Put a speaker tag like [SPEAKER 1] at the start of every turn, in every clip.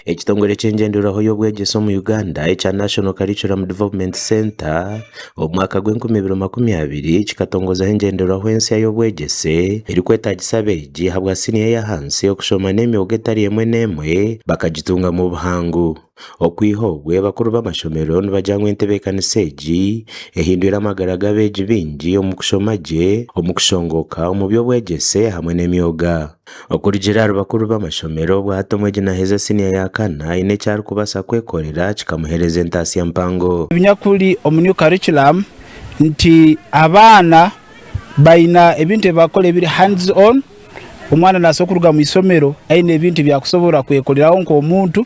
[SPEAKER 1] Ekitongore ky'engyenderwaho y'obwegyese omu Uganda ekya National Curriculum Development Centre omu mwaka gw'enkumi ibiri makumi abiri kikatongozaho engyenderwaho ensya y'obwegyese erikwetaagisa abeegi ahabwa siniya ey'ahansi okushoma n'emyoga etari emwe n'emwe bakagitungamu buhangu. Okwiha obwo, abakuru b'amashomero nibagira ngu entebeekanisa egi ehindwire amagara g'abeegi baingi omu kushoma gye, omu kushongooka, omu by'obwegyese hamwe n'emyoga. Okurugiirira ahari bakuru b'amashomero, bwahati omwegi naaheza siniya ya kana aine eki arikubaasa kwekorera kikamuheereza entaasya mpango. Ebinyakuri omu New
[SPEAKER 2] Curriculum nti abaana baine ebintu ebi bakora ebiri hands on, omwana naabaasa kuruga mu ishomero aine ebintu ebi arikusobora kwekoreraho nk'omuntu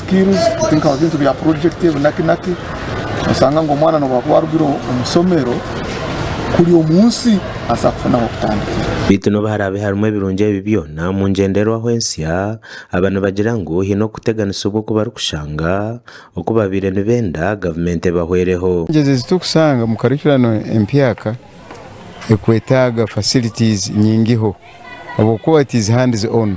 [SPEAKER 3] skills think of ebintu bya project ebinakinaki osanga ngu omwana nobu akuba arugire omu somero kuri omu nsi aza kufuna ahokutandikira. Beitu nobu harabe
[SPEAKER 1] harimu ebirungi ebi byona omu ngyenderwaho ensya, aba nibagira ngu hine okuteganisibwa oku barikushanga oku babaire nibenda gavumenti ebahwereho. Challenges ezi turikushanga
[SPEAKER 4] omu curriculum empyaka ekwetaga facilities nyingiho obwokuba it is hands on.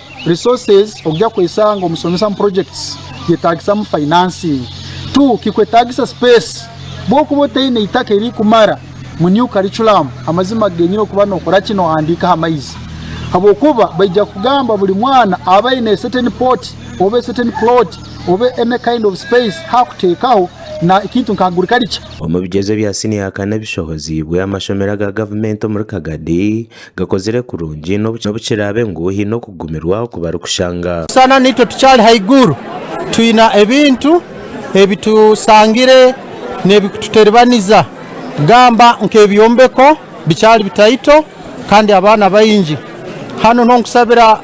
[SPEAKER 3] Resources, Okugya kuhitsya ngu omusomesa mu projects yetagisamu financing. Two, Kikwetagisa space. Bwokuba otaine itaka erikumara mu new curriculum, amazima agenyire okuba nokora ki? Nohandiika aha maizi. Habwokuba baija kugamba buri mwana abe aine a certain pot oba a certain plot oba any kind of space hakutekaho na ekintu nka agriculture. Omu bigyezo bya
[SPEAKER 1] siniya ya kana ebishohoziibwe amashomero aga gavumenti omuri Kagadi, gakozire kurungi n'obu kiraabe ngu haine okugumirwa oku barikushanga. Busana naitwe tukyali
[SPEAKER 5] haiguru, twine ebintu ebi tusangire n'ebikututeribaniza, gamba nk'ebyombeko bikyali bitaito kandi abaana baingi. Hanu niho nkushabira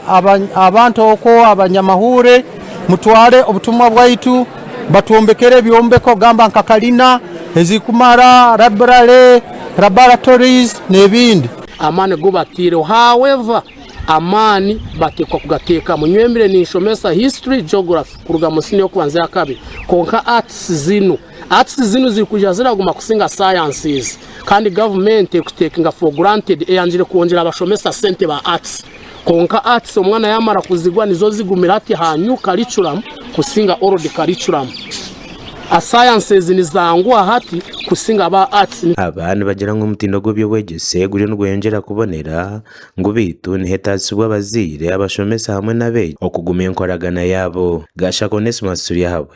[SPEAKER 5] abantu okwo abanyamahuure mutware obutumwa bwaitu batwombekere ebyombeko gamba nka kalina ezirikumara, rabirale, laboratories n'ebindi. Amaani gu
[SPEAKER 6] bataireho. However, amaani bateekwa kugateekamu. Nyowe mbire ninshomesa History, Geography kuruga mu siniya y'okubanza eya kabiri. Kwonka Arts zinu, Arts zinu ziri kwija ziraguma kusinga Sciences. Kandi Gavumenti eri kuziteekinga for granted eyangire kwongyera abashomesa sente ba Arts. Kwonka Arts omwana yaamara kuzigwa nizo zigumire hati aha New Curriculum kusinga Old Curriculum. A Sciences nizangwa hati kusinga aba Arts. Aba nibagira ngu
[SPEAKER 1] omutindo gw'eby'obwegyese guriyo nigweyongyera kubonera, ngu beitu niheetagisibwa abazaire, abashomesa hamwe n'abeegi okugumya enkoragana yaabo. Gashaka Onesmus Turyahabwe.